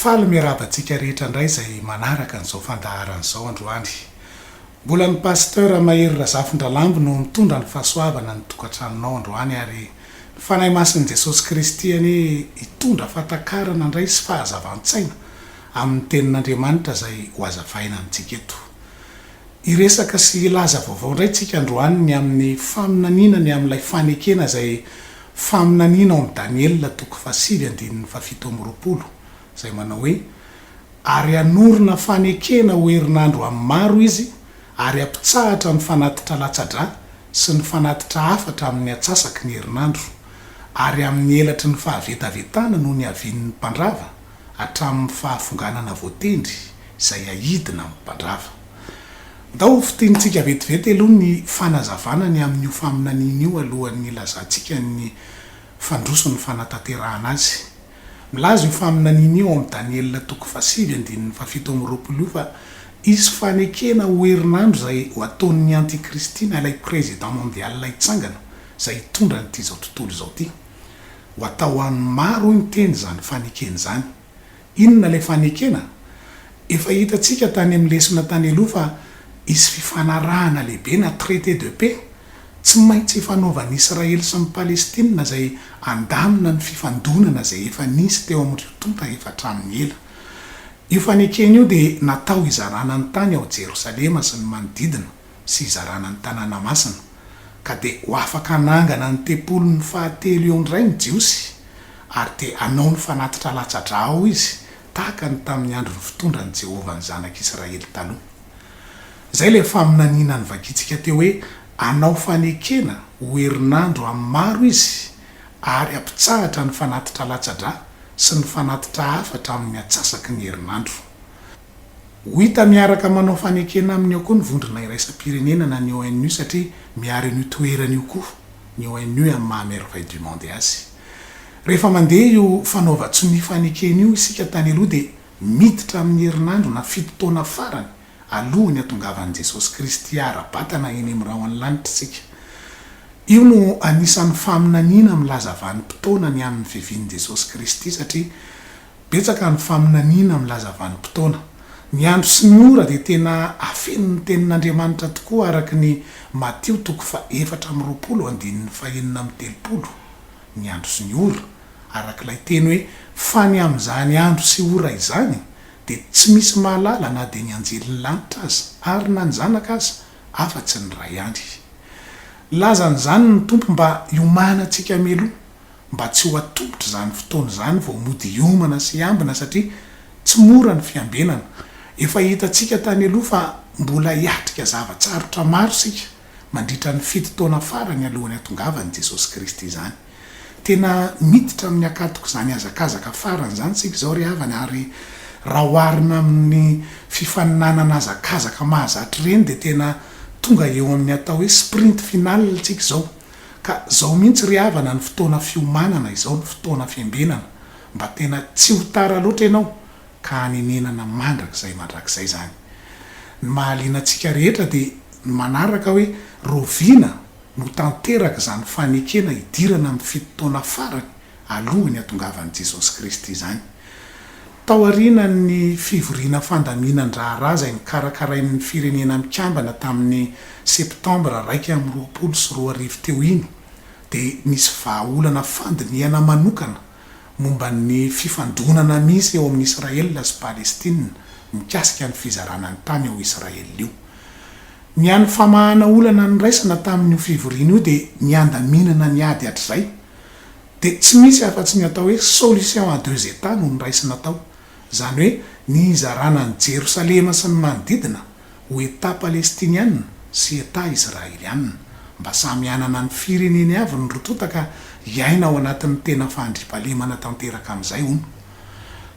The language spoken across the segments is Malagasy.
Faly miarahaba antsika rehetra indray izay manaraka an'izao fandaharana izao androany. Mbola ny Pasteur Mahery Razafindralambo no mitondra ny fahasoavana ny tokantranonao androany ary ny Fanahy Masin'i Jesosy Kristy anie hitondra fahatakarana indray sy fahazavan-tsaina amin'ny Tenin'Andriamanitra izay hohazavaina amintsika eto. Hiresaka sy hilaza vaovao indray tsika androany ny amin'ny faminaniana ny amin'ilay fanekena izay faminaniana ao amin'ny Daniela toko fahasivy andininy fahafito amby roapolo izay manao hoe, Ary hanorina fanekena ho herinandro amin'ny maro izy, ary hampitsahatra ny fanatitra latsa-drà sy ny fanatitra hafatra amin'ny atsasaky ny herinandro, ary amin'ny elatry ny fahavetavetana no niavian'ny mpandrava. hatramin'ny fahafonganana voatendry izay ahidina amin'ny mpandrava. Ndao ho fitenintsika vetivety aloha ny fanazavana ny amin'io faminaniana io alohan'ny hilazantsika ny fandroso ny fanatanterahana azy. Milaza io faminaniana io ao amin'ny Daniela toko fahasivy andininy fahafito amby roapolo io fa hisy fanekena ho herinandro izay ho ataon'ny antikristy na ilay prezida mondial hitsangana izay hitondra an'ity izao tontolo izao ity. ho atao ho an'ny maro hoy ny teny izany fanekena izany. Inona ilay fanekena? Efa hitantsika tany amin'ny lesona tany aloha fa hisy fifanarahana lehibe na traité de paix tsy maintsy hifanaovan'ny Israely sy ny Palestina izay handamina ny fifandonana izay efa nisy teo amin'ireo tonta efa hatramin'ny ela. Io fanekena io dia natao hizarana ny tany ao Jerosalema sy ny manodidina. sy hizarana ny tanàna masina, ka dia ho afaka hanangana ny tempoliny fahatelo eo indray ny Jiosy, ary dia hanao ny fanatitra latsa-drà ao izy, tahaka ny tamin'ny andron'ny fitondran'i Jehovah ny zanak'Israely taloha. Izay ilay faminaniana novakintsika teo hoe hanao fanekena ho herinandro amin'ny maro izy, ary hampitsahatra ny fanatitra latsa-drà sy ny fanatitra hafa hatramin'ny atsasaky ny herinandro. Ho hita miaraka manao fanekena aminy ao koa ny vondrona iraisam-pirenena na ny ONU satria miaro an'io toerana io koa ny ONU amin'ny maha merveille du monde azy. Rehefa mandeha io fanaovan-tsonia fanekena io isika tany aloha dia miditra amin'ny herinandro na fito taona farany alohan'ny hatongavan'i Jesosy Kristy ara-batana eny amin'ny rahon'ny lanitra isika. Io no anisan'ny faminaniana milaza vanim-potoana ny amin'ny fivian'i Jesosy Kristy satria Betsaka ny faminaniana milaza vanim-potoana. Ny andro sy ny ora dia tena afenin'ny Tenin'Andriamanitra tokoa araka ny Matio toko fahefatra amby roapolo andininy fahenina amby telopolo, Ny andro sy ny ora, araka ilay teny hoe fa ny amin'izany andro sy ora izany dia tsy misy mahalala na dia ny anjelin'ny lanitra aza ary na ny zanaka aza afa-tsy ny Ray ihany. Lazan'izany ny Tompo mba hiomanantsika mialoha. mba tsy ho atolotra izany fotoana izany vao mody hiomana sy hiambina satria tsy mora ny fiambenana. Efa hitantsika tany aloha fa mbola hiatrika zava-tsarotra maro isika mandritra ny fito taona farany alohan'ny hatongavan'i Jesosy Kristy izany. Tena miditra amin'ny hakatok'izany hazakazaka farany izany isika izao ry havana ary raha oharina amin'ny fifaninanana hazakazaka mahazatra ireny dia tena tonga eo amin'ny atao hoe sprint final isika izao. Ka zao mihintsy ry havana ny fotoana fiomanana izao ny fotoana fiambenana mba tena tsy ho tara loatra ianao ka hanenenana mandrakizay mandrakizay zany. Ny mahaliana antsika rehetra dia ny manaraka hoe roviana no tanteraka izany fanekena hidirana amin'ny fito taona farany alohan'ny hatongavan'i Jesosy Kristy izany. Tao aorianan'ny fivoriana fandaminan-draharaha izay nokarakarain'ny Firenena Mikambana tamin'ny Septambra iraika amby roapolo sy roa arivo teo iny, dia nisy vahaolana fandinihana manokana momba ny fifandonana misy eo amin'i Israel sy Palestina mikasika ny fizarana ny tany ao Israel io. Ny hany famahana olana noraisana tamin'io fivoriana io dia ny handaminana ny ady hatrizay, dia tsy misy afa-tsy ny atao hoe solution à deux États no noraisina tao, izany hoe ny hizarana an'i Jerosalema sy ny manodidina ho État Palestiniana sy État Israeliana, mba samy hanana ny fireneny avy ny roa tonta ka hiaina ao anatin'ny tena fandriampahalemana tanteraka amin'izay, hono.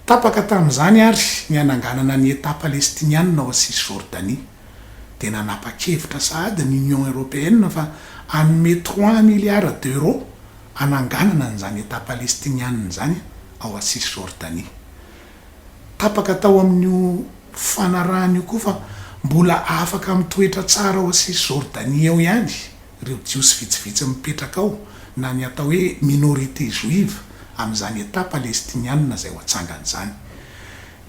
Tapaka tamin'izany àry ny hananganana ny État Palestiniana ao Cisjordanie. dia nanapa-kevitra sahady ny Union Européenne fa hanome trois milliards d'euros hananganana an'izany Etat Palestiniana izany ao à Cisjordanie. Tapaka tao amin'io fanarahana io koa fa mbola afaka mitoetra tsara ao à Cisjordanie ao ihany ireo Jiosy vitsivitsy mipetraka ao na ny atao hoe minorité juive amin'izany Etat Palestiniana izay ho atsangany izany.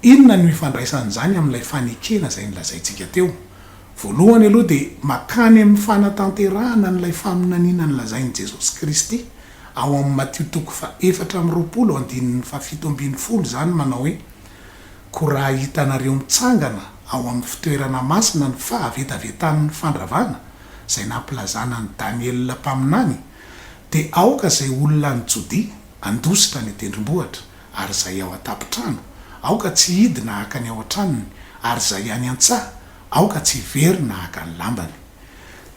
Inona no ifandraisan'izany amin'ilay fanekena izay nolazaintsika teo? Voalohany aloha dia mankany amin'ny fanatanterahana an'ilay faminaniana nolazain'i Jesosy Kristy ao amin'ny Matio toko fahefatra amby roapolo andininy fahafito ambin'ny folo izany manao hoe, Koa raha hitanareo mitsangana ao amin'ny fitoerana masina ny fahavetavetan'ny fandravana izay nampilazana an'i Daniela mpaminany dia aoka izay olona any Jodia handositra any an-tendrombohitra ary izay ao an-tampon-trano, aoka tsy hidina haka ny ao an-tranony, ary izay any an-tsaha, aoka tsy hiverina haka ny lambany.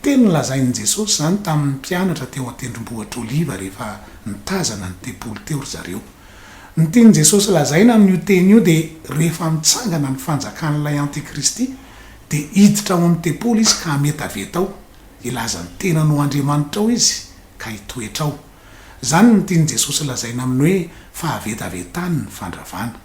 Teny nolazain'i Jesosy izany tamin'ny mpianatra teo an-tendrombohitr'Oliva rehefa nitazana ny tempoly teo ry zareo. Ny tian'i Jesosy lazaina amin'io teny io dia rehefa mitsangana ny fanjakan'ilay antikristy, dia hiditra ao amin'ny tempoly izy ka hametaveta ao, hilaza ny tenany ho andriamanitrao izy ka hitoetra ao. Izany no tian'i Jesosy lazaina amin'ny hoe fahavetavetany ny fandravana.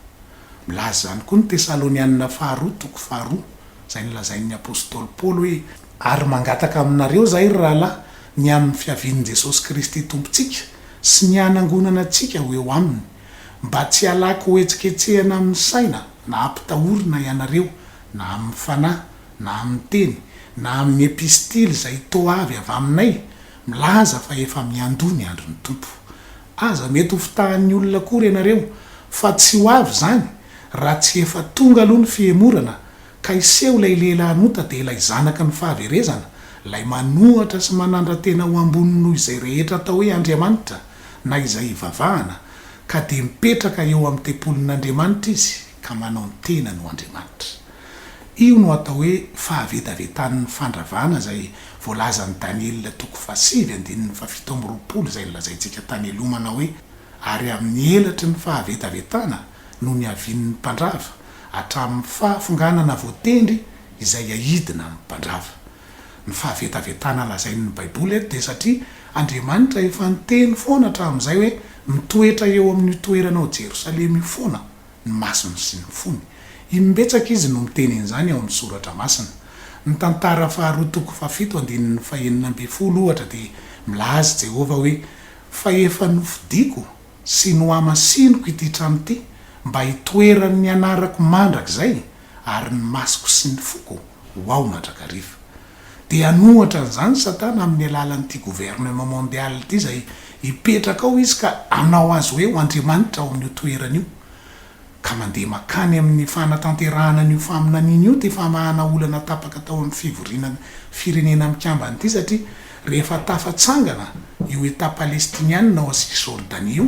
Milaza izany koa ny Tesalonianina Faharoa toko faharoa, izay nolazain'ny apostoly Paoly hoe, Ary mangataka aminareo izahay, ry rahalahy, ny amin'ny fiavian'i Jesosy Kristy Tompontsika sy ny hanangonana antsika ho eo aminy, mba tsy halaky hohetsiketsehana amin'ny saina na hampitahorina ianareo na amin'ny fanahy na amin'ny teny na amin'ny epistily izay toa avy avy aminay, milaza fa efa miandoha ny andron'ny Tompo. Aza mety ho fitahan'ny olona akory ianareo, fa tsy ho avy izany raha tsy efa tonga aloha ny fihemorana, ka hiseho ilay Lehilahin'ota dia ilay Zanaky ny fahaverezana, ilay manohatra sy manandra-tena ho ambony noho izay rehetra atao hoe andriamanitra na izay ivavahana, ka dia mipetraka eo amin'ny tempolin'Andriamanitra izy ka manao ny tenany ho andriamanitra. Io no atao hoe fahavetavetan'ny fandravana izay voalazan'i Daniela toko fahasivy andininy fahafito amby roapolo izay nolazaintsika tany aloha manao hoe, Ary amin'ny elatry ny fahavetavetana no niavian'ny mpandrava, hatramin'ny fahafonganana voatendry izay aidina amin'ny mpandrava. Ny fahavetavetana lazain'ny Baiboly eto dia satria Andriamanitra efa niteny foana hatramin'izay hoe mitoetra eo amin'io toerana ao Jerosalema io foana ny masony sy ny fony. Imbetsaka izy no miteny an'izany ao amin'ny Soratra Masina. Ny Tantara faharoa toko fahafito andininy fahenina ambin'ny folo, ohatra, dia milaza i Jehovah hoe, Fa efa nofidiko sy nohamasiniko ity trano ity mba hitoeran'ny anarako mandrakizay, ary ny masoko sy ny foko ho ao mandrakariva. Dia hanohatra an'izany Satana amin'ny alalan'ity gouvernement mondial ity izay hipetraka ao izy ka hanao azy hoe ho andriamanitra ao amin'io toerana io. Ka mandeha makany amin'ny fanatanterahana an'io faminaniana io ity famahana olana tapaka tao amin'ny fivoriana Firenena Mikambana ity satria rehefa tafatsangana io Etat Palestiniana ao Cisjordanie io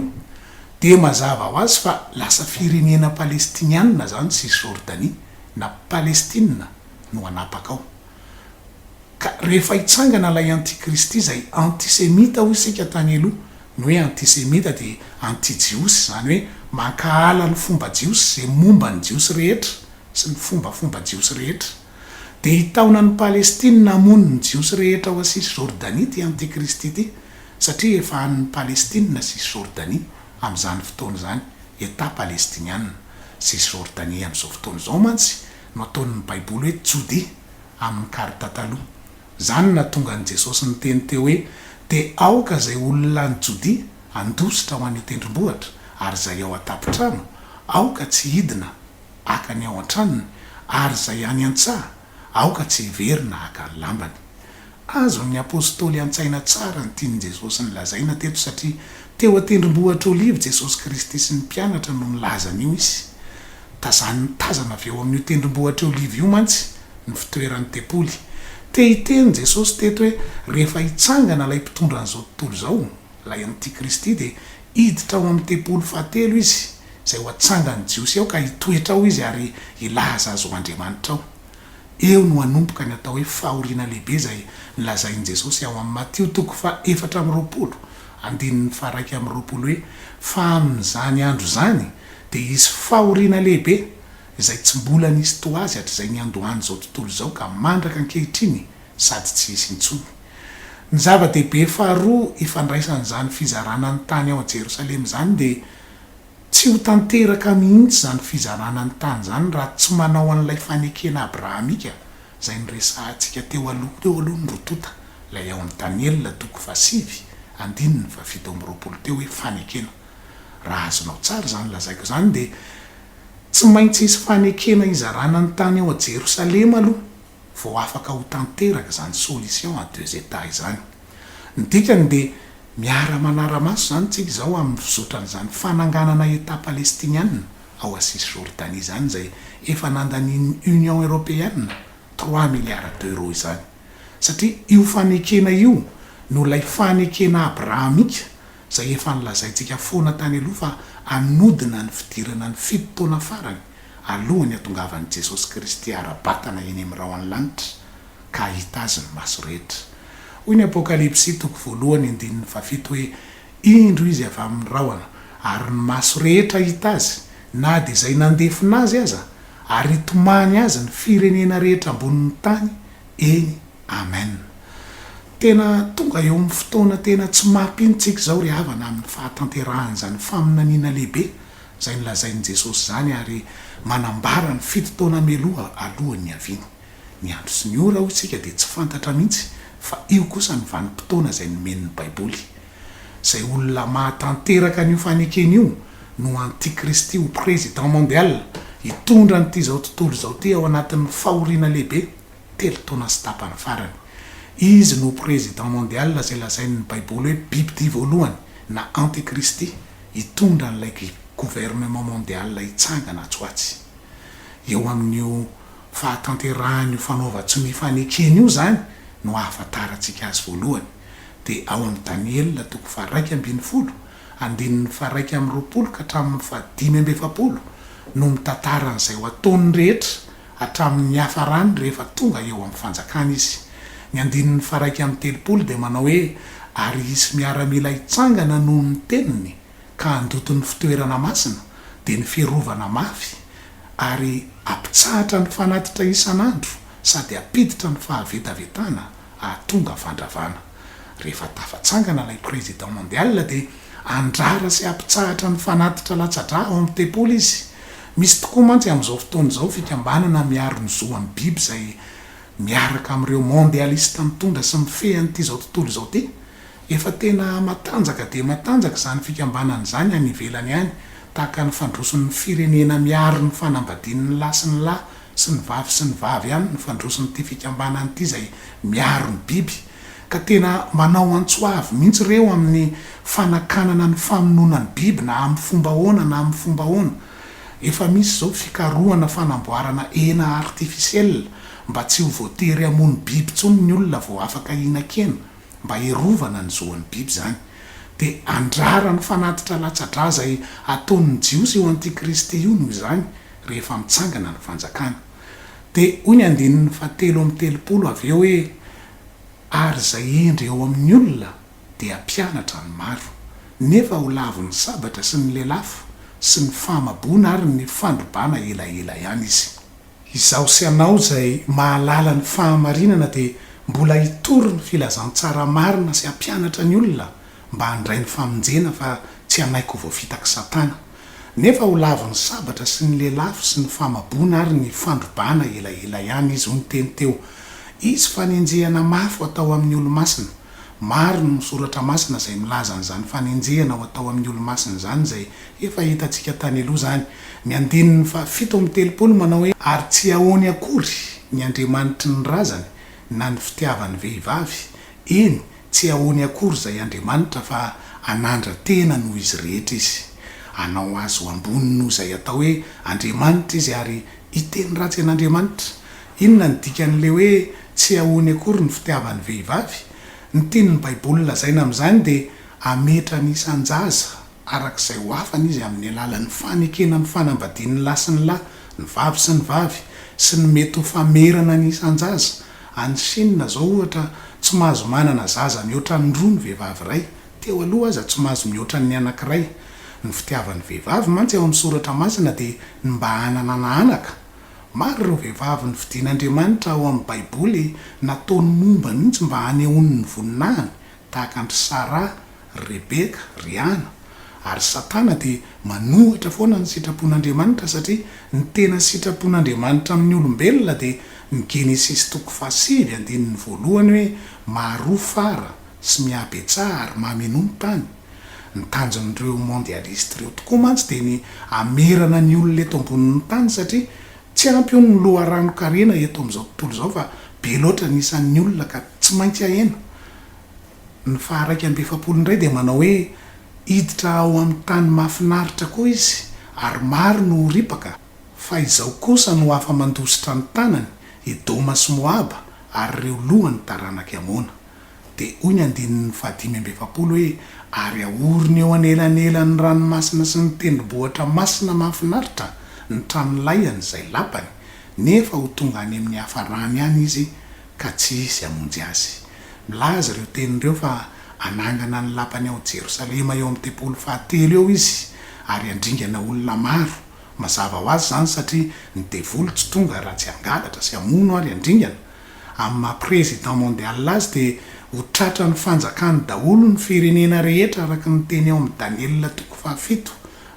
dia mazava ho azy fa lasa Firenena Palestiniana izany Cisjordanie na Palestina no hanapaka ao. Ka rehefa hitsangana ilay antikristy izay antisemita hoy isika tany aloha, ny hoe antisemita dia antijiosy izany hoe mankahala ny fomba jiosy izay momba ny jiosy rehetra sy ny fombafomba jiosy rehetra. Dia hitaona an'i Palestina hamono ny jiosy rehetra ao a Cisjordanie ity antikristy ity satria efa an'ny Palestina Cisjordanie amin'izany fotoana izany, Etat palestiniana, Cisjordanie amin'izao fotoana izao mantsy no ataon'ny Baiboly hoe tsodia amin'ny karta taloha. Izany no nahatonga an'i Jesosy niteny teo hoe, Dia aoka izay olona any Jodia handositra ho an'io tendrombohitra, ary izay ao an-tampon-trano, aoka tsy hidina haka ny ao an-tranony, ary izay any an-tsaha, aoka tsy hiverina haka ny lambany. Azon'ny apostoly an-tsaina tsara ny tian'i Jesosy nolazaina teto satria teo an-tendrombohitra Oliva Jesosy Kristy sy ny mpianatra no nilaza an'io izy. Tazaniny tazana avy eo amin'io tendrombohitra Oliva io mantsy ny fitoeran'ny tempoly. Te hiteny Jesosy teto hoe rehefa hitsangana ilay mpitondra an'izao tontolo izao, ilay antikristy, dia hiditra ao amin'ny tempoly fahatelo izy, izay ho atsangan'ny Jiosy ao ka hitoetra ao izy ary hilaza azy ho andriamanitra ao. Eo no hanomboka ny atao hoe fahoriana lehibe izay nolazain'i Jesosy ao amin'ny Matio toko faha efatra amby roapolo, andininy faha iraika amby roapolo hoe, Fa amin'izany andro izany dia hisy fahoriana lehibe izay tsy mbola nisy toa azy hatrizay niandohan'izao tontolo izao ka mandraka ankehitriny sady tsy hisy intsony. Ny zava-dehibe faharoa ifandraisan'izany fizarana ny tany ao Jerosalema izany dia, Tsy ho tanteraka mihitsy izany fizarana ny tany izany raha tsy manao an'ilay fanekena abrahamika izay noresahantsika teo aloha teo aloha ny rotota, ilay ao amin'ny Daniela toko fahasivy andininy fahafito amby roapolo teo hoe fanekena. Raha azonao tsara izany lazaiko izany dia tsy maintsy hisy fanekena hizarana ny tany ao Jerosalema aloha vao afaka ho tanteraka izany solution à deux États izany. Ny dikany dia miara-manara-maso izany tsika izao amin'ny fizotra an'izany fananganana Etat Palestiniana ao à Cisjordanie izany izay efa nandanian'ny Union Europeana trois milliards d'euros izany satria io fanekena io no ilay fanekena Abrahamika izay efa nolazaintsika foana tany aloha fa hanodina ny fidirana ny fito taona farany alohan'ny hatongavan'i Jesosy Kristy ara-batana eny amin'ny rahon'ny lanitra ka hahita azy ny maso rehetra. Hoy ny Apokalypsy toko voalohany andininy fahafito hoe, Indro izy avy amin'ny rahona, ary ny maso rehetra hahita azy, na dia izay nandefona azy aza, ary hitomany azy ny firenena rehetra ambonin'ny tany, eny, amen. Tena tonga eo amin'ny fotoana tena tsy mampino-tsika izao ry havana amin'ny fahatanterahan'izany faminaniana lehibe izay nolazain'i Jesosy izany ary manambara ny fito taona mialoha alohan'ny hiaviany. Ny andro sy ny ora, hoy isika, dia tsy fantatra mihitsy, fa io kosa ny vanim-potoana izay nomen'ny Baiboly. Izay olona mahatanteraka an'io fanekena io no antikristy ho président mondial, hitondra an'ity izao tontolo izao ity ao anatin'ny fahoriana lehibe, telo taona sy tapany farany. Izy no président mondial izay lazain'ny Baiboly hoe bibidia voalohany, na antikristy, hitondra an'ilay gouvernement mondial hitsangana atsy ho atsy. Eo amin'io. fahatanterahan'io fanaovan-tsy mifanekena io izany no ahafantarantsika azy voalohany, dia ao amin'ny Daniela toko faharaika ambin'ny folo, andininy faharaika amby roapolo ka hatramin'ny fahadimy amby efapolo, no mitantara an'izay ho ataony rehetra hatramin'ny niafarany rehefa tonga eo amin'ny fanjakana izy. Ny andininy faharaika amby telopolo dia manao hoe, Ary hisy miaramila hitsangana noho ny teniny, ka handoto ny fitoerana masina, dia ny fiarovana mafy, ary hampitsahatra ny fanatitra isan'andro sady hampiditra ny fahavetavetana hahatonga fandravana. Rehefa tafatsangana ilay Président Mondial dia handrara sy hampitsahatra ny fanatitra latsa-drà ao amin'ny tempoly izy. Misy tokoa mantsy amin'izao fotoana izao fikambanana miaro ny zo an'ny biby izay miaraka amin'ireo Mondialista mitondra sy mifehy an'ity izao tontolo izao ity, Efa tena matanjaka dia matanjaka izany fikambanana izany any ivelany any, tahaka ny fandroson'ny firenena miaro ny fanambadian'ny lahy sy ny lahy sy ny vavy sy ny vavy ihany ny fandroson'ity fikambanana ity izay miaro ny biby, ka tena manao antso avo mihitsy ireo amin'ny fanakanana ny famonoana ny biby na amin'ny fomba ahoana na amin'ny fomba ahoana. Efa misy izao fikarohana fanamboarana hena artificielle mba tsy ho voatery hamono biby intsony ny olona vao afaka hihinan-kena. mba hiarovana ny zo an'ny biby izany, dia andraran'ny fanatitra latsa-drà izay hataon'ny Jiosy io antikristy io noho izany rehefa mitsangana ny fanjakana. Dia hoy ny andininy fahatelo amby telopolo avy eo hoe, Ary izay hendry ao amin'ny olona dia mpianatra ny maro, nefa ho lavo ny sabatra sy ny lelafo sy ny fahamaboana ary ny fandrobana elaela ihany izy. Izaho sy ianao izay mahalala ny fahamarinana dia mbola hitory ny filazantsara marina sy hampianatra ny olona mba handray ny famonjena fa tsy hanaiky ho voafitak'i Satana. Nefa ho lavon'ny sabatra sy ny lelafo sy ny famaboana ary ny fandrobana elaela ihany izy hoy ny teny teo izy fanenjehana mafy ho atao amin'ny olomasina. Maro ny soratra masina izay milaza an'izany fanenjehana ho atao amin'ny olomasina izany izay Efa hitantsika tany aloha izany. Ny andininy fahafito amin'ny telopolo manao hoe, Ary tsy ahoany akory ny andriamanitry ny razany na ny fitiavan'ny vehivavy, eny, tsy ahoany akory izay andriamanitra fa hanandra-tena noho izy rehetra izy. Hanao azy ho ambony noho izay atao hoe andriamanitra izy ary hiteny ratsy an'Andriamanitra. Inona no dikan'ilay hoe tsy ahoany akory ny fitiavan'ny vehivavy? Ny tian'ny Baiboly lazaina amin'izany dia hametra ny isan-jaza araka izay ho afany izy amin'ny alalan'ny fanekena ny fanambadian'ny lahy sy ny lahy, ny vavy sy ny vavy, sy ny mety ho famerana ny isan-jaza. Any Shina izao, ohatra, tsy mahazo manana zaza mihoatra ny roa ny vehivavy iray. Teo aloha aza, tsy mahazo mihoatra ny anankiray. Ny fitiavan'ny vehivavy mantsy ao amin'ny Soratra Masina dia ny mba hananana anaka. Maro ireo vehivavy nofidin'Andriamanitra ao amin'ny Baiboly nataony momba mihitsy mba hanehoany ny voninahiny, tahaka an-dry Sara, ry Rebeka, ry Ana, ary Satana dia manohitra foana ny sitrapon'Andriamanitra satria ny tena sitrapon'Andriamanitra amin'ny olombelona dia ny Genesisy toko fahasivy andininy voalohany hoe maharoa fara sy mihabetsaha ary mamenoa ny tany. Ny tanjon'ireo mondialistes ireo tokoa mantsy dia ny hamerana ny olona eto ambonin'ny tany satria tsy ampy hono ny loharanon-karena eto amin'izao tontolo izao fa be loatra ny isan'ny olona ka tsy maintsy hahena Ny faha-iraika amby efapolo indray dia manao hoe, Hiditra ao amin'ny tany mahafinaritra koa izy, ary maro no ho ripaka, fa izao kosa no afa-mandositra ny tanany, Edoma sy Moaba, ary ireo lohan'ny taranak'i Amona. Dia hoy ny andininy fahadimy amby efapolo hoe, Ary ahorony eo anelanelan'ny ranomasina sy ny tendrombohitra masina mahafinaritra ny tranolay an'izay lapany, nefa ho tonga any amin'ny hafarany any izy ka tsy hisy hamonjy azy. Milaza ireo teny ireo fa hanangana ny Lapany ao Jerosalema eo amin'ny tempoly fahatelo eo izy, ary handringana olona maro. Mazava ho azy izany satria ny devoly tsy tonga raha tsy hangalatra sy hamono ary handringana. Amin'ny maha Président Mondial azy dia ho tratran'ny fanjakany daholo ny firenena rehetra araka ny teny ao amin'ny Daniela toko fahafito.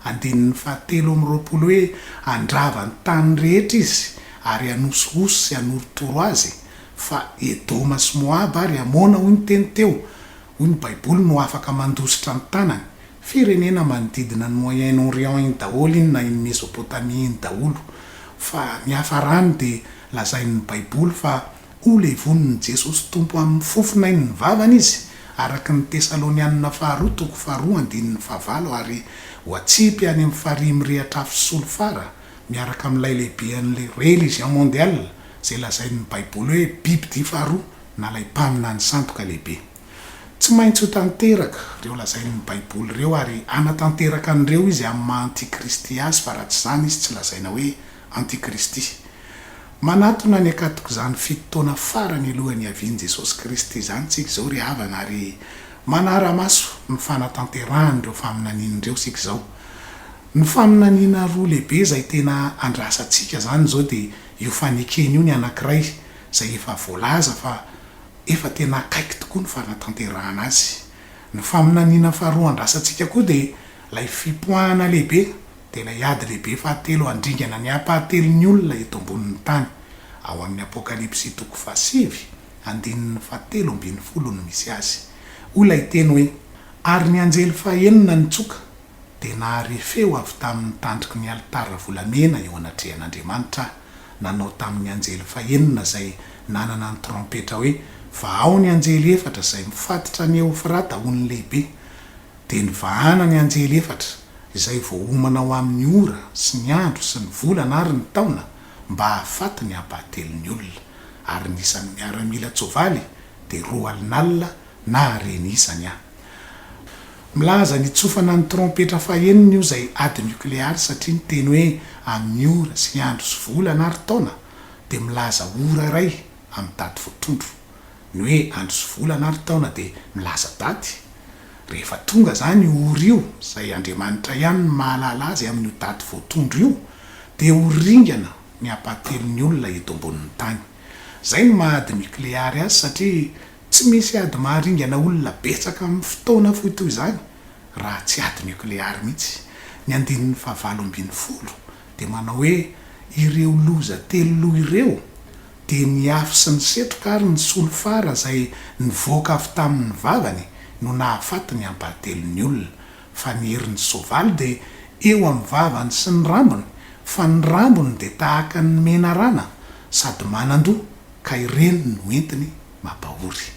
andininy fahatelo amby roapolo hoe, Handrava ny tany rehetra izy, ary hanosihosy sy hanorotoro azy, fa Edoma sy Moaba ary Amona, hoy ny teny teo, hoy ny Baiboly, no afaka mandositra ny tanany. Firenena manodidina an'i Moyen Orient iny daholo iny na iny Mesopotamia iny daholo. Fa ny hafarany dia lazain'ny Baiboly fa Ho levonin'i Jesosy Tompo amin'ny fofonay ny vavany izy, araka ny Tesalonianina faharoa toko faharoa andininy fahavalo ary ho atsipy any amin'ny farihy mirehatra afo sy solifara, miaraka amin'ilay lehibean'ilay religion mondiale izay lazain'ny Baiboly hoe bibidia faharoa na ilay mpaminany sandoka lehibe. Tsy maintsy ho tanteraka ireo lazain'ny Baiboly ireo ary hanatanteraka an'ireo izy amin'ny maha antikristy azy fa raha tsy izany izy tsy lazaina hoe Antikristy. Manatona ny hakaton'izany fito taona farany alohan'ny hiavian'i Jesosy Kristy izany isika izao ry havana ary manara-maso ny fanatanterahan'ireo faminaniana ireo isika izao. Ny faminaniana roa lehibe izay tena andrasantsika izany izao dia io fanekena io ny anankiray izay efa voalaza fa efa tena akaiky tokoa ny fanatanterahana azy. Ny faminaniana faharoa andrasantsika koa dia ilay fipoahana lehibe. dia ilay ady lehibe fahatelo handringana ny hampahatelon'ny olona eto ambonin'ny tany, ao amin'ny Apokalypsy toko fahasivy, andininy fahatelo ambin'ny folo no misy azy. Hoy ilay teny hoe, Ary ny anjely fahenina nitsoka, dia nahare feo avy tamin'ny tandroky ny alitara volamena eo anatrehan'Andriamanitra, nanao tamin'ny anjely fahenina izay nanana ny trompetra hoe, Vahao ny anjely efatra izay mifatotra ny Eofrata ho ny lehibe, Dia nivahana ny anjely efatra izay voaomana ho amin' ny ora sy ny andro sy ny volana ary ny taona mba hahafaty ny hampahatelo ny olona, ary ny isan' ny miaramilan-tsoavaly dia roa alina alina na hareny isany a. Milaza ny hitsofana ny trompetra fahenina io izay ady niokleary satria ny teny hoe amin' ny ora sy ny andro sy volana ary taona dia milaza ora iray amin' ny daty voatrondro. Ny hoe andro sy volana ary taona dia milaza daty. Rehefa tonga izany io ora io, izay Andriamanitra ihany no mahalala azy amin'io daty voatondro io, dia ho ringana ny hampahatelon'ny olona eto ambonin'ny tany. Izay no maha ady nikleary azy satria tsy misy ady maharingana olona betsaka amin'ny fotoana fohy toy izany raha tsy ady nikleary mihitsy. Ny andininy fahavalo ambin'ny folo dia manao hoe ireo loza telo loha ireo Dia ny afo sy ny setroka ary ny solifara izay nivoaka avy tamin' ny vavany no nahafaty ny ampahatelon' ny olona, fa ny herin' ny soavaly dia eo amin' ny vavany sy ny rambony, fa ny rambony dia tahaka ny menarana sady manan-doha, ka ireny no entiny mampahory.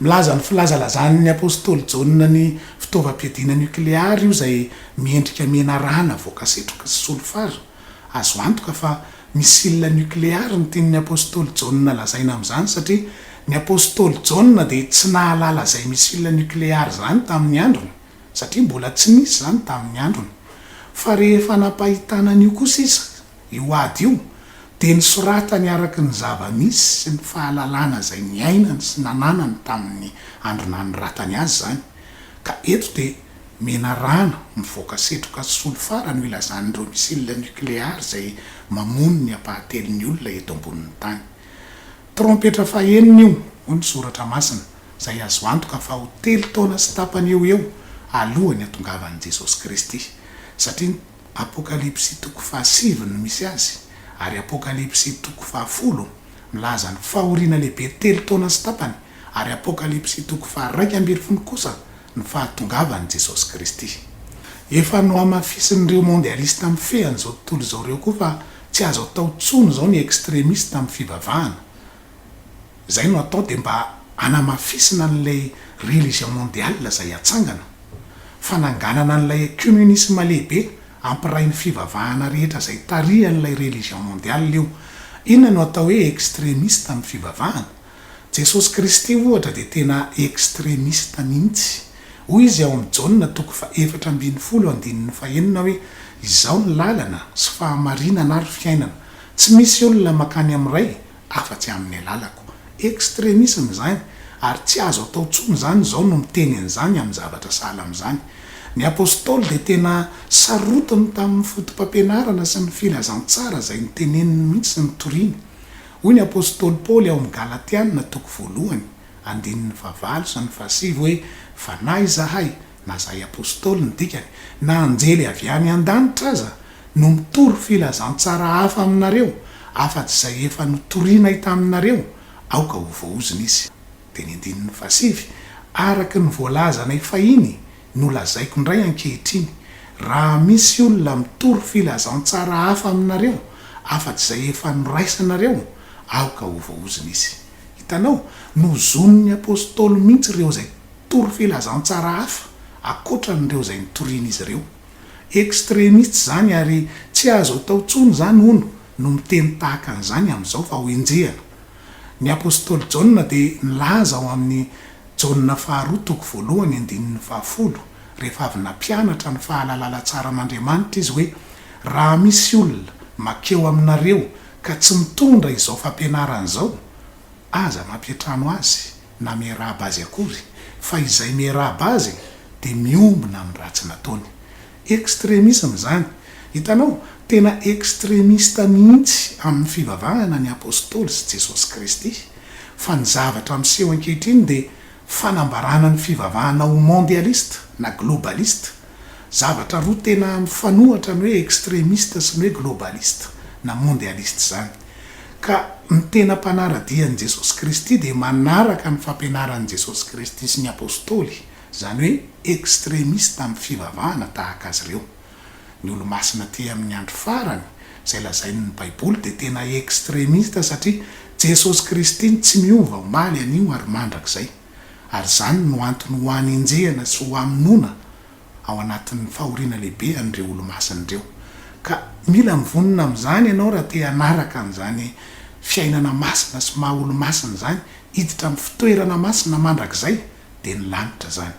Milaza ny filazalazan' ny apôstôly Jaona ny fitaovam-piadiana niokleary io izay miendrika menarana voaka setroky sy solifara. Azo antoka fa misilina nokleary ny tian'ny apostoly Jaona lazaina amin'izany satria ny apostoly Jaona dia tsy nahalala izay misilina nokleary izany tamin'ny androny satria mbola tsy nisy izany tamin'ny androny. Fa rehefa nampahitana an'io kosa izy, io ady io, dia nisoratany araka ny zava-misy sy ny fahalalana izay niainany sy nananany tamin'ny andro nanoratany azy izany. Ka eto dia. Menarano mivoaka setroka solifara no ilazan'ireo missiles nucléaires izay mamono ny ampahatelon'ny olona eto ambonin'ny tany. Trompetra fahenina io, hoy ny Soratra Masina, izay azo antoka fa ho telo taona sy tapany eo ho eo alohan'ny hatongavan'i Jesosy Kristy, satria Apokalypsy toko fahasivy no misy azy, ary Apokalypsy toko fahafolo milaza ny fahoriana lehibe telo taona sy tapany, ary Apokalypsy toko faha-raika ambin'ny folo kosa ny fahatongavan'i Jesosy Kristy. Efa nohamafisin'ireo mondialista mifehy an'izao tontolo izao ireo koa fa tsy azo atao intsony izao ny extremiste amin'ny fivavahana. Izay no atao dia mba hanamafisina an'ilay religion mondiale izay hatsangana. Fananganana an'ilay ecumenisme lehibe hampiray ny fivavahana rehetra izay tarihan'ilay religion mondiale io. Inona no atao hoe extremiste amin'ny fivavahana? Jesosy Kristy ohatra dia tena extremiste mihitsy. Hoy Izy ao amin'ny Jaona toko faha efatra ambin'ny folo andininy faha enina hoe, Izaho ny lalana sy fahamarinana ary fiainana, tsy misy olona mankany amin'ny Ray afa-tsy amin'ny alalako. Extremisme izany, ary tsy azo atao intsony izany izao no miteny an'izany amin'ny zavatra sahala amin'izany. Ny Apostoly dia tena sarotiny tamin'ny fotopampianarana sy ny filazantsara izay noteneniny mihitsy sy notoriny. Hoy ny apostoly Paoly ao amin'ny Galatiana toko voalohany, andininy fahavalo sy ny fahasivy hoe, Fa na izahay, na izahay apostoly ny dikany, na anjely avy any an-danitra aza, no mitory filazantsara hafa aminareo, afa-tsy izay efa notorinay taminareo, aoka ho voaozona izy. Dia ny andininy fahasivy, Araka ny voalazanay fahiny, no lazaiko indray ankehitriny, raha misy olona mitory filazantsara hafa aminareo afa-tsy izay efa noraisanareo, aoka ho voahozona izy. Hitanao? Nozonin'ny apostoly mihitsy ireo izay tory filazantsara hafa ankoatran'ireo izay nitorian'izy ireo. Extremiste izany ary tsy azo atao intsony izany, hono, no miteny tahaka an'izany amin'izao fa ho enjehina. Ny apostoly Jaona dia nilaza ao amin'ny Jaona faharoa toko voalohany andininy fahafolo, rehefa avy nampianatra ny fahalalala tsaran'Andriamanitra izy hoe, Raha misy olona mankeo aminareo ka tsy mitondra izao fampianarana izao, aza mampiantrano azy na miarahaba azy akory, fa izay miarahaba azy dia miombona amin'ny ratsy nataony. Extremisme izany. Hitanao? Tena extremiste mihitsy amin'ny fivavahana ny Apostoly sy Jesosy Kristy. Fa ny zavatra miseho ankehitriny dia fanambarana ny fivavahana ho mondialiste na globaliste. Zavatra roa tena mifanohatra ny hoe extremiste sy ny hoe globaliste na mondialiste izany. Ka ny tena mpanara-dia an'i Jesosy Kristy dia manaraka ny fampianaran'i Jesosy Kristy sy ny Apostoly. izany hoe extremiste amin'ny fivavahana tahaka azy ireo. Ny Olomasina aty amin'ny andro farany, izay lazain'ny Baiboly, dia tena extremiste satria Jesosy Kristy no tsy miova omaly, anio ary mandrakizay. Ary izany no antony ho hanenjehana sy ho hamonoana ao anatin'ny fahoriana lehibe an'ireo Olomasina ireo. Ka mila mivonona amin'izany ianao raha te hanaraka an'izany fiainana masina sy maha-Olomasina izany, hiditra amin'ny fitoerana masina mandrakizay. dia ny lanitra izany.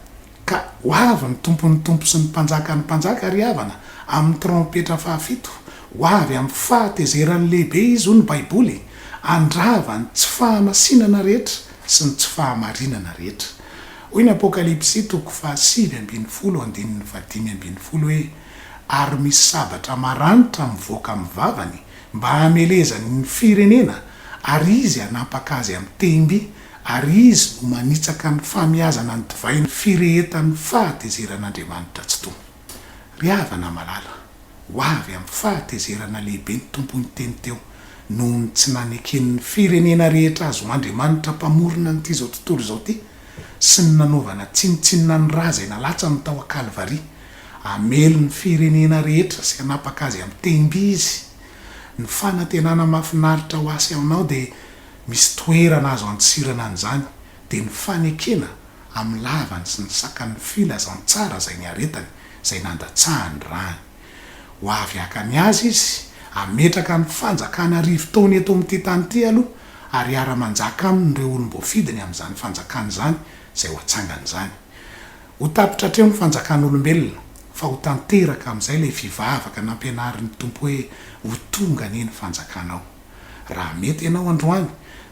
Ka ho avy ny Tompon'ny tompo sy ny Mpanjakan'ny mpanjaka, ry havana, amin'ny trompetra fahafito, ho avy amin'ny fahatezerany lehibe Izy, hoy ny Baiboly, handrava ny tsy fahamasinana rehetra sy ny tsy fahamarinana rehetra. Hoy ny Apokalypsy toko fahasivy ambin'ny folo andininy fahadimy ambin'ny folo hoe, Ary misy sabatra maranitra mivoaka amin'ny vavany, mba hamelezany ny firenena, ary izy hanapaka azy amin'ny tehim-by, ary izy no manitsaka ny famiazana ny divay ny firehetan'ny fahatezeran'Andriamanitra tsy tony. Ry havana malala, ho avy amin'ny fahatezerana lehibe ny Tompo niteny teo, noho ny tsy naneken'ny firenena rehetra azy ho andriamanitra mpamorona an'ity izao tontolo izao ity, sy ny nanaovana tsinontsinona ny ra izay nalatsany tao an-Kalvary. Hamely ny firenena rehetra sy hanapaka azy amin'ny tehim-by izy. Ny fanantenana mahafinaritra ho asy aminao dia Misy toerana azo antsirana an'izany dia ny fanekena amin'ny lavany sy ny sakan'ny filazantsara izay niaretany, izay nandatsahany rany. Ho avy haka ny azy izy, hametraka ny fanjakana arivo taona eto amin'ity tany ity aloha, ary hiara-manjaka aminy ireo olom-boafidiny amin'izany fanjakana izany izay ho atsangany izany. Ho tapitra hatreo ny fanjakan'olombelona, fa ho tanteraka amin'izay ilay fivavaka nampianarin'ny Tompo hoe, Ho tonga anie ny fanjakanao. Raha mety ianao androany,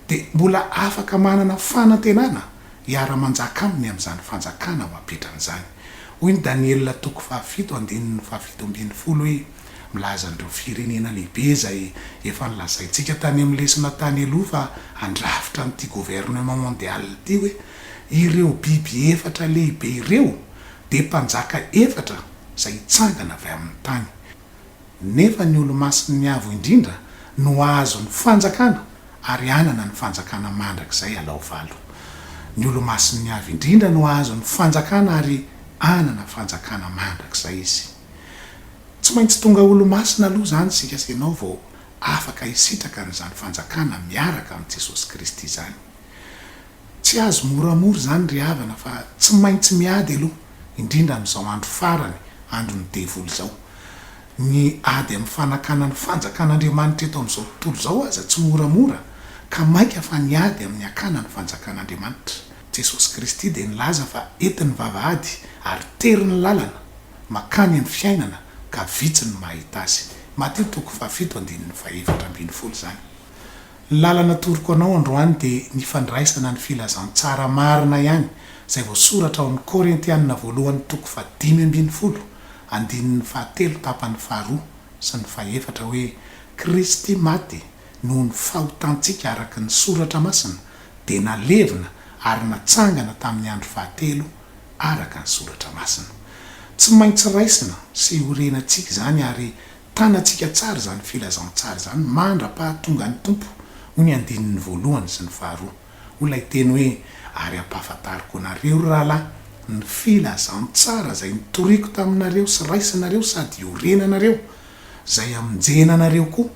dia mbola afaka manana fanantenana hiara-manjaka aminy amin'izany Fanjakana ho apetrany izany. Hoy ny Daniela toko fahafito andininy fahafito ambin'ny folo hoe, Milaza an'ireo firenena lehibe izay efa nolazaintsika tany amin'ny lesona tany aloha fa handrafitra an'ity Gouvernement Mondial ity hoe, Ireo biby efatra lehibe ireo dia mpanjaka efatra izay hitsangana avy amin'ny tany. nefa ny Olomasin'ny Avo Indrindra no hahazo ny fanjakana ary hanana ny fanjakana mandrakizay alao valo. Ny Olomasin'ny Avo Indrindra no hahazo ny fanjakana ary hanana fanjakana mandrakizay izy. Tsy maintsy tonga Olomasina aloha izany isika sy ianao vao afaka hisitraka an'izany fanjakana miaraka amin'i Jesosy Kristy izany. Tsy azo moramora izany ry havana fa tsy maintsy miady aloha, indrindra amin'izao andro farany, andron'ny devoly izao. Ny ady amin'ny fanakana ny fanjakan'Andriamanitra eto amin'izao tontolo izao aza tsy moramora ka mainka fa ny ady amin'ny hakana ny fanjakan'Andriamanitra. Jesosy Kristy dia nilaza fa entin'ny vavahady ary tery ny lalana makany amin'ny fiainana ka vitsy ny mahita azy. Matio toko fahafito andininy fahefatra ambin'ny folo izany. Ny lalana atoroko anao androany dia ny fandraisana ny filazantsara marina ihany izay voasoratra ao amin'ny Korintianina voalohany toko fahadimy ambin'ny folo andininy fahatelo tapany faharoa sy ny fahefatra hoe, Kristy maty noho ny fahotantsika araka ny soratra masina dia nalevina ary natsangana tamin'ny andro fahatelo araka ny soratra masina. Tsy maintsy raisina sy orenantsika izany ary Tanantsika tsara izany filazantsara izany mandra-pahatongan'ny Tompo, hoy ny andininy voalohany sy ny faharoa. Hoy ilay teny hoe, Ary hampahafantariko anareo, ry rahalahy, ny filazantsara izay notoriako taminareo sy raisinareo sady iorenanareo, izay hamonjena anareo koa,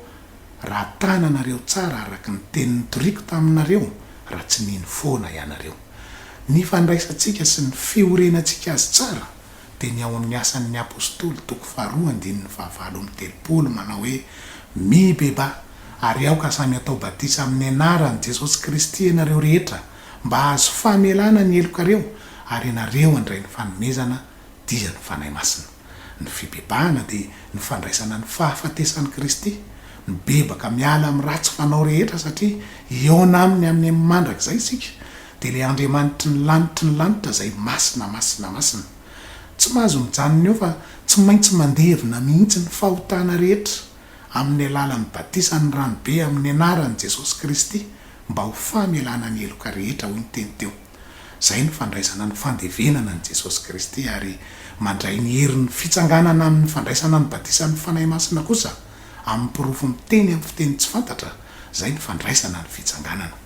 raha tananareo tsara araka ny teny notoriako taminareo, raha tsy nino foana ianareo. Ny fandraisantsika sy ny fiorenantsika Azy tsara dia ny ao amin'ny Asan' ny Apôstôly toko faharoa andininy fahavalo amby telopolo manao hoe, Mibebaha, ary aoka samy hatao batisa amin' ny anaran'i Jesosy Kristy ianareo rehetra mba hahazo famelana ny helokareo, ary ianareo handray ny fanomezana, dia ny Fanahy Masina. Ny fibebahana dia ny fandraisana ny fahafatesan'i Kristy. Mibebaka miala amin'ny ratsy fanao rehetra satria hihaona aminy amin'ny mandrakizay isika. Dia ilay Andriamanitry ny lanitry ny lanitra izay masina, masina, masina. Tsy mahazo mijanona eo fa tsy maintsy mandevina mihitsy ny fahotana rehetra amin'ny alalan'ny batisan'ny ranobe amin'ny anaran'i Jesosy Kristy mba ho famelana ny heloka rehetra hoy ny teny teo. Izay no fandraisana ny fandevenana an'i Jesosy Kristy ary mandray ny herin'ny fitsanganana amin'ny fandraisana ny batisan'ny Fanahy Masina kosa. amin'ny porofo miteny amin'ny fiteny tsy fantatra, izay ny fandraisana ny fitsanganana.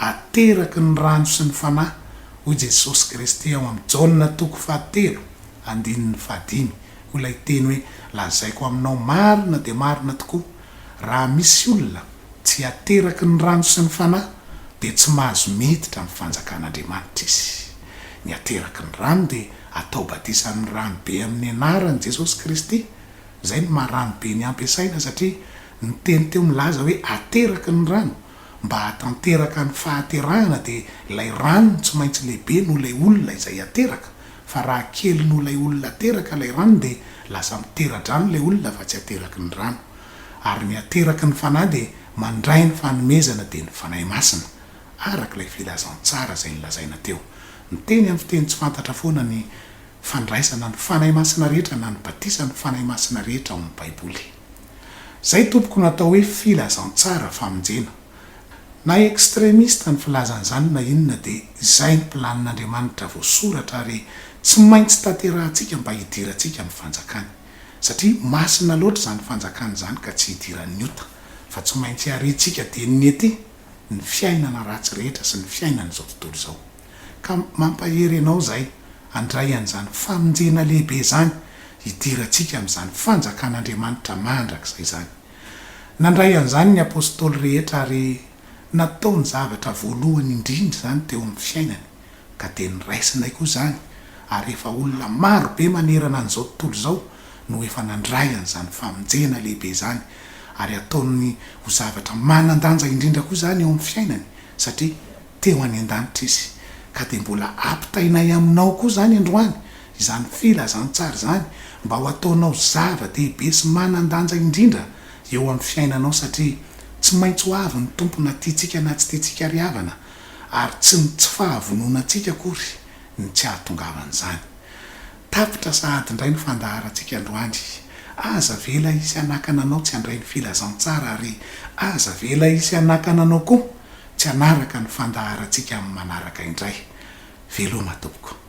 Ateraky ny rano sy ny Fanahy, hoy Jesosy Kristy ao amin'ny Jaona toko fahatelo, andininy fahadimy, ho ilay teny hoe, Lazaiko aminao marina dia marina tokoa, raha misy olona tsy ateraky ny rano sy ny Fanahy, dia tsy mahazo miditra amin'ny fanjakan'Andriamanitra izy. Ny ateraky ny rano dia atao batisa amin'ny rano be amin'ny anaran'i Jesosy Kristy, Izay no maha rano be ny ampiasaina satria ny teny teo milaza hoe ateraky ny rano, mba hahatanteraka ny fahaterahana dia ilay rano no tsy maintsy lehibe noho ilay olona izay ateraka, fa raha kely noho ilay olona ateraka ilay rano dia lasa mitera-drano ilay olona fa tsy ateraky ny rano. Ary ny ateraky ny Fanahy dia mandray ny fanomezana dia ny Fanahy Masina, araka ilay filazantsara izay nolazaina teo. Miteny amin'ny fiteny tsy fantatra foana ny. fandraisana ny Fanahy Masina rehetra na ny batisan' ny Fanahy Masina rehetra ao amin' ny Baiboly. Izay tompoko no atao hoe filazantsara, famonjena. Na extremiste ny filazana izany na inona dia izay ny planin' Andriamanitra voasoratra ary tsy maintsy tanterahantsika mba hidirantsika ny fanjakany. Satria masina loatra izany fanjakana izany ka tsy hidiran' ny ota fa tsy maintsy hariantsika dieny ny ety ny fiainana ratsy rehetra sy ny fiainan' izao tontolo izao. Ka mampahery anao izahay handray an'izany famonjena lehibe izany hidirantsika amin'izany Fanjakan'Andriamanitra mandrakizay izany. Nandray an'izany ny Apostoly rehetra ary nataony zavatra voalohany indrindra izany teo amin'ny fiainany, ka dia niraisinay koa izany ary efa olona maro be manerana an'izao tontolo izao no efa nandray an'izany famonjena lehibe izany ary ataony ho zavatra manan-danja indrindra koa izany eo amin'ny fiainany satria teo any an-danitra Izy, ka dia mbola ampitainay aminao koa izany androany, izany Filazantsara izany, mba ho ataonao zava-dehibe sy manan-danja indrindra eo amin'ny fiainanao, satria tsy maintsy ho avy ny Tompo na tiantsika na tsy tiantsika ry havana, ary tsy ny tsy fahavononantsika akory no tsy ahatongavan'izany. Tapitra sahady indray ny fandaharantsika androany. Aza avela hisy hanakana anao tsy handray ny filazantsara ary aza avela hisy hanakana anao koa tsy hanaraka ny fandaharantsika amin'ny manaraka indray. Veloma tompoko.